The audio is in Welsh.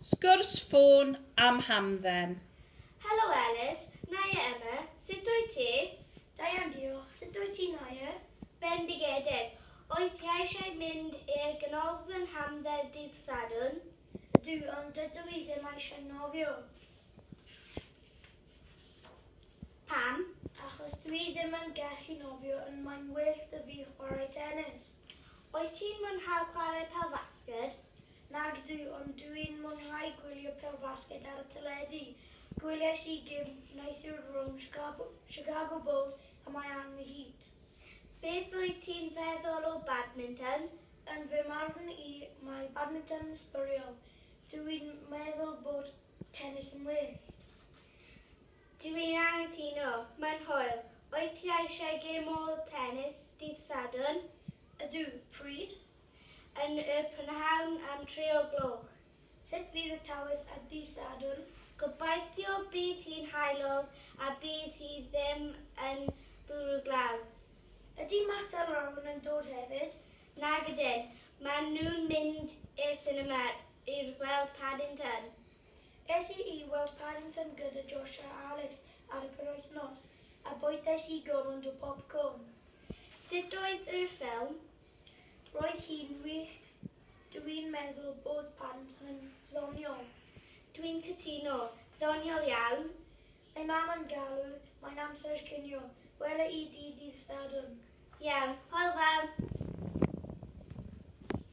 Sgwrs ffôn am hamdden. Helo Elis, Naye Emma, sut wyt ti? Da iawn diolch, sut wyt ti Naye? Bendigedig! Wyt ti eisiau mynd i'r ganolfan hamdden dydd Sadwrn? Ydw, ond dydw i ddim eisiau nofio. Pam? Achos dw i ddim yn gallu nofio ond mae'n well 'da fi chwarae tenis. Wyt ti'n mwynhau chwarae pêl-fasged? Nagdw, ond dw i'n mwynhau gwylio pêl-fasged ar y teledu. Gwyliais i gêm neithiwr rhwng Chicago Bulls a Miami Heat. Beth wyt ti'n feddwl o badminton? Yn fy marn i, mae badminton yn sbwriel. Dw i'n meddwl bod tenis yn well. Dw i'n anghytuno. Mae'n hoel. Wyt ti eisiau gêm o tenis dydd Sadwrn? Ydw. Pryd? yn y prynhawn am dri o gloch. Sut fydd y tywydd ar ddydd Sadwrn? Gobeithio bydd hi'n haelog a bydd hi ddim yn bwrw glaw. Ydy Matt a Lauren yn dod hefyd? Nag ydyn, maen nhw'n mynd i'r sinema i weld Paddington. Es i i weld Paddington gyda Josh a Alice ar y penwythnos a bwytais i gormod o popcorn. Sut oedd yr ffilm? Roedd hi'n wych, dw i'n meddwl bod band yn ddoniol. Dwi'n cytuno, ddoniol iawn! Mae mam yn galw, mae'n amser cinio, wela i di ddydd Sadwrn. Iawn, hwyl fawr!